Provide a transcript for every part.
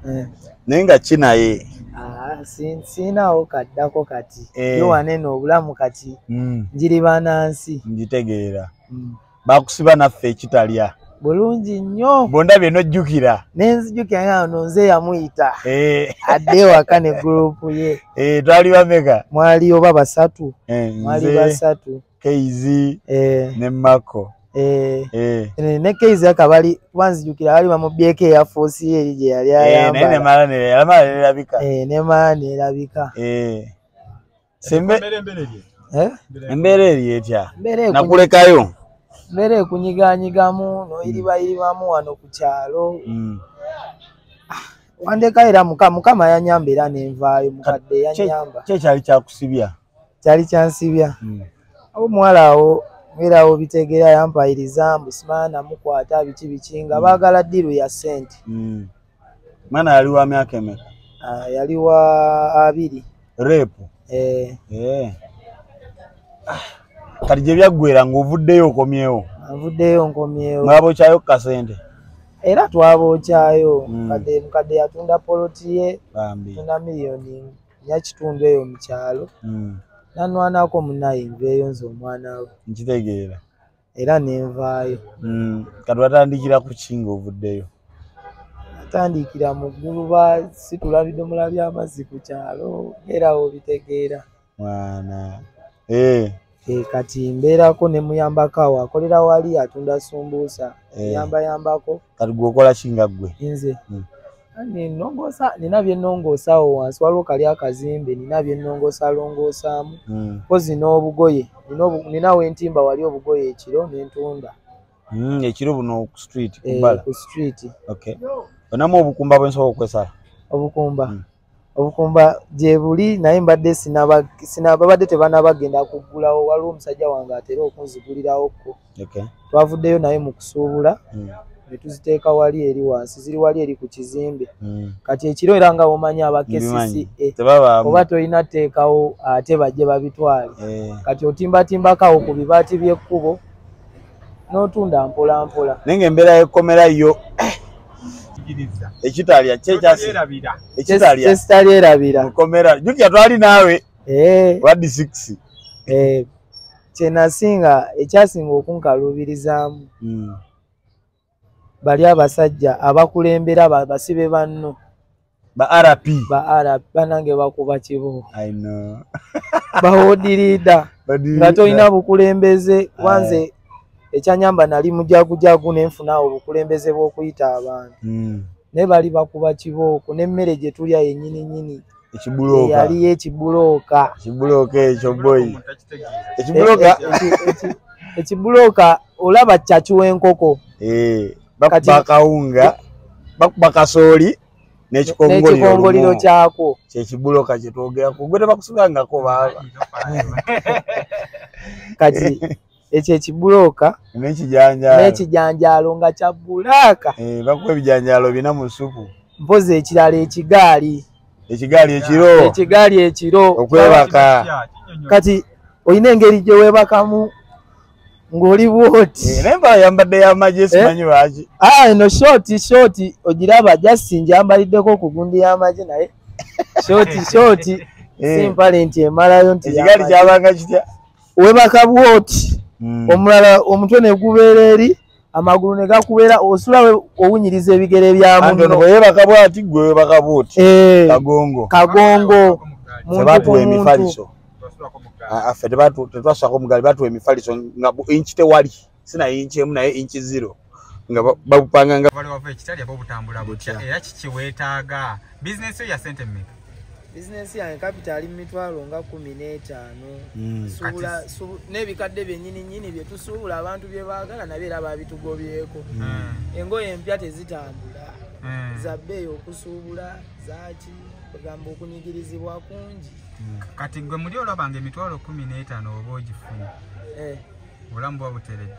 eh. naye nga kinaye ah, siinawo kaddako kati eh. yowane no obulamu kati hmm. njiri banansi ngitegeera hmm. bakusiba naffe ekitalya bulungi nnyo bondabye nojjukira nenzijukira nga no nze yamuyita eh. adde ewaka ne gurupu ye twali bameka mwali oba basatu mwali basatu kz eh. ne mako eh. eh. ne kz akabali kuba nzijukira bali bamubyeko eyafuusi eri gye yali ayambanemala nerabika nemala nerabika embeera eri etya nakulekayo mbeera ekunyiganyigamu noyiribayiribamu wano ku kyalo mm. ah, wandekaera mukama yanyamba era nenvaayo mukadde yanyamba kyekyali kyakusibya kyali kyansibya hmm. awo omuwala awo era awo bitegeera yampayiriza mbu simaana mukwata biki biki nga hmm. baagala ddiiru ya ssente hmm. maana yali wa myaka emeka ah, yali wa abiri reepu eh. eh. ah, kati gye byaggwera ng'ovuddeyo okomyewo avuddeyo nkomyewo mwabookyayo ku kasente era twabookyayo mukadde yatunda poloti ye tunda miliyoni ya kitundu eyo mu kyalo hmm. nanwanako munaye nveeyo nze omwana we nkitegeera era nenvaayo hmm. kati watandikira ku kinga ovuddeyo atandikira mu ggulu ba situla bidomola by'amazzi ku kyalo era wo bitegeera mwana ee eh. E, kati mbeerako ne muyambako awo akolera wali atunda sumbuusa eh. yamba yambako kati gwe okola kinga ggwe nze hmm. nenongosa nina byenongosa awo wansi waliwo kali akazimbe nina byenongosa longosaamu hmm. kozi n'obugoye nina wentimba wali obugoye ekiro nentunda hmm, ekiro buno ku street eh, kubala ku street okay onamu obukumba bwensobola okwesala obukumba obukumba gyebuli naye mbadde babadde tebanabagenda kuggulawo waliwo omusajja wange atera okunzigulirawoku twavuddeyo naye mu kusuubula hmm. ne tuziteeka wali eri wansi ziri wali eri ku kizimbe hmm. kati ekiro era nga womanyi aba kcca oba tolina teekawo ate bajje babitwale eh. kati otimbatimbakawo ku bibaati by'ekkubo notunda mpola mpola naye nga embeera yekomera yo eh. ekitalya kyekyalyerabira mukomera jukya twali naawe eh. wadi six eh. kyenasinga ekyasinga okunkaluubirizaamu hmm. bali abasajja abakulembera basibe banno ba rp ba rp banange bakuba kibo bawodirida nga tolina bukulembeze wanze eh. ekyanyamba nali mujagujagu nenfuna obukulembeze bwokuyita abantu hmm. naye bali bakuba kibooko nemmere gyetulya yenyininyini ekibulooka yali ekibulooka ekibulooka ekyo boyi ekibulooka ekibulooka olaba kyaki w'enkoko eh, bakuba kawunga bakuba kasooli n'ekikongoliro kyakwo kyekibulooka kye twogerako gwe tebakusibangako baaba kati ekyo ekibulooka n'ekijanjaalo nga kya bulaaka eh, bakuba ebijanjaalo bina mu supu mpozi ekirala ekigaali ekigaali ekiro ekigaali ekiro okwebaka kati olina engeri gye weebakamu ng'oli bwoti eh, naye mbala yambadde yamagye eh? simanyi lwaki ah, eno shooti shooti ogiraba jasi njambaliddeko okugundi y'amagye naye shooti shooti simpale nti emalayo nti ekigaali kyabanga kitya webaka bwoti mm. omulala omutwe negubeera eri amagulu negakubeera osula owunyiriza ebigere byamunoyebaka bwati gwe webaka bwoti eh, kagongo kagongo tebatuwa emifaliso ah, ah, ffe tetwasako mugali batuwa emifaliso nga inchi tewali sina inchi emu naye inchi zero nga babupanga nga bali wava ekitali abo butambula butya era kiki wetaaga bizinesi yo ya sente mmeka bizinesi yange kapita ali mu mitwalo nga kumi n'etaano hmm. n'ebikadde byenyini nyini bye tusuubula abantu bye baagala nabyo era babitugobyeko hmm. engoye empya tezitambula hmm. za bbeeyi okusuubula zaki ogamba okunyigirizibwa kungi kati gwe muli olabanga emitwalo kumi n'etaano oba ogifuna eh. obulamu buba buteredde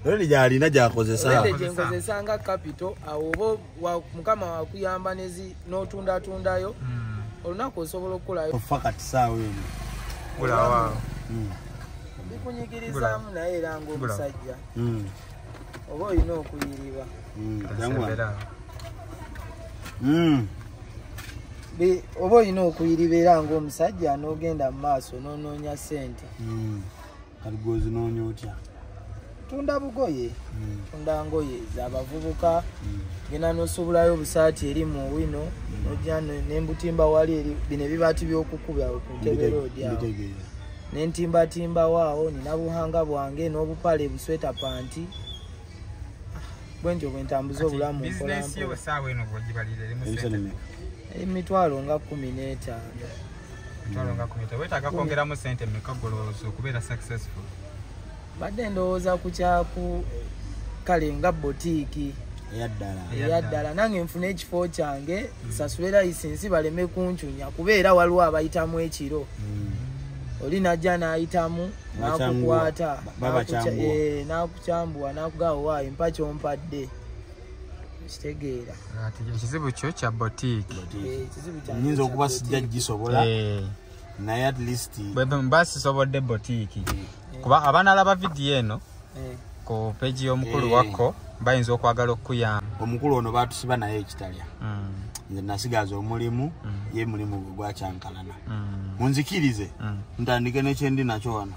redi gyalina gyakozesaredi gyenkozesa nga kapito awo oba mukama wakuyamba nezi n'otundatundayo hmm. olunaku osobola okukolayo ofa kati saawa eno kulawa hmm. bikunyigirizaamu naye era ngaomusajja hmm. oba olina okuyiriba oba olina okuyiriba era ngaomusajja n'ogenda mu maaso n'onoonya ssente kati gwozinoonya otya tunda bugoye hmm. tunda ngoye zabavubuka hmm. genda nosubulayo obusaati eri mu wino hmm. noja nembutimba wali eri bino ebibaati byokukuba kuteberoodyawo nentimbatimbawo awo nina buhanga bwange nobupale busweta panti bwentyo bwentambuza obulamu emitwalo nga kumi netaano wetaaga kwongeramu sente meka golowooza okubeera successful badde ndowooza ku kyaku kale nga botiiki eyaddala nange nfuna ekifo kyange hmm. sasule layisinsi baleme kuncunya kubeera waliwo abayitamu ekiro hmm. oli najja nayitamu nakukwata nakukyambuwa eh, nakugawa empa kyompadde kitegeera ekizibu kyo kya botiki eh, nyinza okuba sijja gisobola eh. naye at least mba sisobodde botiki eh. kuba abanalaba vidiyo eno ku peji y'omukulu wakko bayinza okwagala okukuyamba omukulu ono batusiba naye ekitalya mm. nze nasigaza omulimu mm. ye mulimu gwe gwakyankalana mm. munzikirize ntandike nekyendi nakyo wano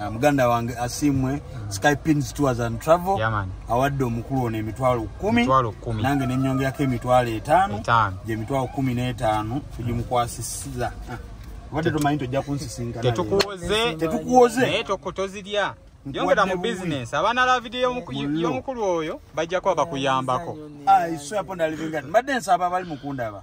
Ah, muganda wange asimwe mm. skypins tours and travel awadde omukulu ono emitwalo kumi nange nenyongerako emitwalo etaano gyemitwalo kumi n'etaano tugimukwasisiza ah, obadde tomanyi tojja kunsisinkanatetukuwoze tozirya yongera mu business abaana la video y'omukulu oyo bajja kuba bakuyambako mbadde nsaba abali mukundaba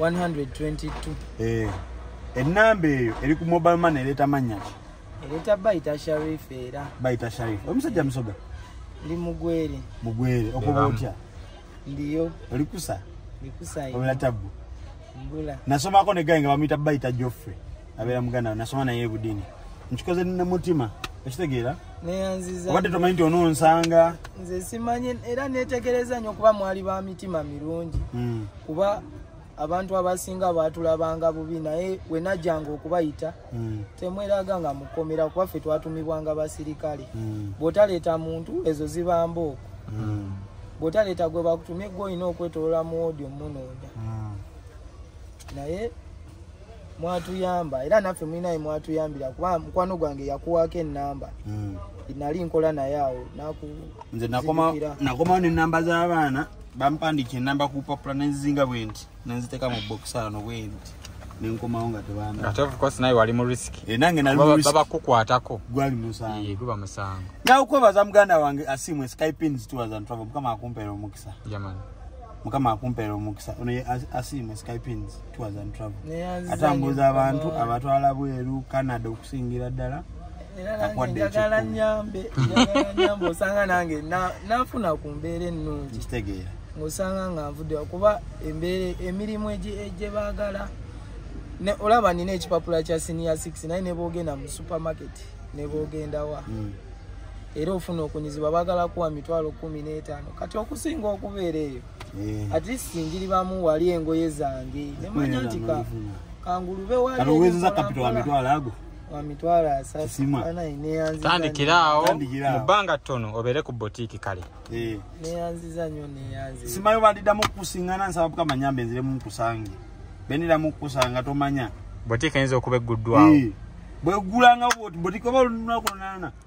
122 eh enamba eyo eri ku mobile money leta manya ki leta baita sharif era baita sharif omusajja musoga ndi mugwere mugwere okuba otya ndiyo olikusa ndikusa obula tabu mbula nasomako ne gayi nga bamuyita baita joffrey abeera muganda nasoma naye ebudini nkikoze nina mutima okitegeera obadde tomanyi nti ononsanga nze simanyi era netegereza nyo okuba mwali ba mitima mirungi hmm. kuba abantu abasinga baatulabanga bubi naye wenajjanga okubayita mm. temweraga nga mukomera kuba ffe twatumibwanga basirikale mm. bw'otaleeta muntu ezo ziba mbooko mm. bw'otaleeta gwe bakutumye gwe olina okwetolola mu woodi omunoonya mm. naye mwatuyamba era naffe mulinaye mwatuyambira kuba mukwano gwange yakuwaako enamba mm. nali nkola naye awo nze nakomawo nenamba z'abaana bampandiika enamba ku bupapula nenzizinga bwe nti nenziteeka mu bokisaano bwe nti nenkomawo nga tebandatevukwasinaye wali mu risiki eh, nange nabakukwatako gwali musango guba musango nawe kwebaza muganda wange asimu eskypinstwazantravo mukama akumpeera omukisa yamani mukama akumpeera omukisa ono ye asimu eskypins twazantravo atambuza abantu abatwala bweru canada okusingira ddala njagala nyambe nyambe osanga nange nafuna ku mbeera ennungi ng'osanga nga nvudde kuba embeera emirimu egye baagala olaba nina ekipapula kya siniya 6 naye nebogenda mu supermarket nebogendawa hmm. era ofuna okunyizibwa bagala kuwa mitwalo kumi n'etaano kati okusinga okubeera eyo eh. at least njiribamu wali engoye zange nemanya nti kangulube waliwezeza kapito wa mitwalo ago tandikira awo mu bbanga ttono obeere ku botiiki kale eh. simayo bandiddamu okukusiŋana nsaba bukama nyamba enziremu nkusange beniddamu okukusanga tomanya botiiki eyinza okuba egguddwawo eh. bwegulanga botiiki oba olunaku lunaana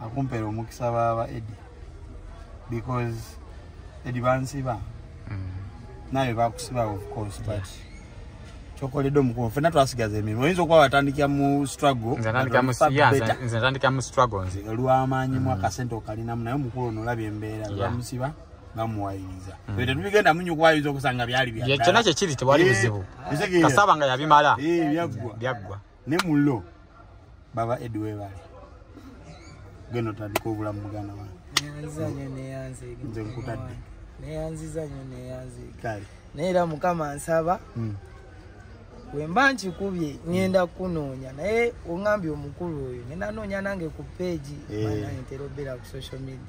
akumpera omukisa baba edi because edi bansiba mm. naye bakusiba of course but yes. kyokoledde omukubo fena twasigaza emirimu oyinza okuba watandikira mu strugglnatandika mu struggle nze olwamaanyi mu mm. akasente okalinamu naye omukulu ono olabye embeera bamusiba bamuwayiriza mm. e tetubigenda munyo kuwayiriza okusanga byali byakyo nakyo kiri tewali eh, buzibu kasaba nga yabimala eh, byaggwa ne mullo baba edi webale genda otandika obulamu muganda wange nze nkutadde neyanziza nyo neyanziika naye era mukama nsaba hmm. wemba nkikubye ngenda kukunoonya naye ongambye omukulu oyo ngenda noonya nange ku peegi eh. ntera obeera ku social media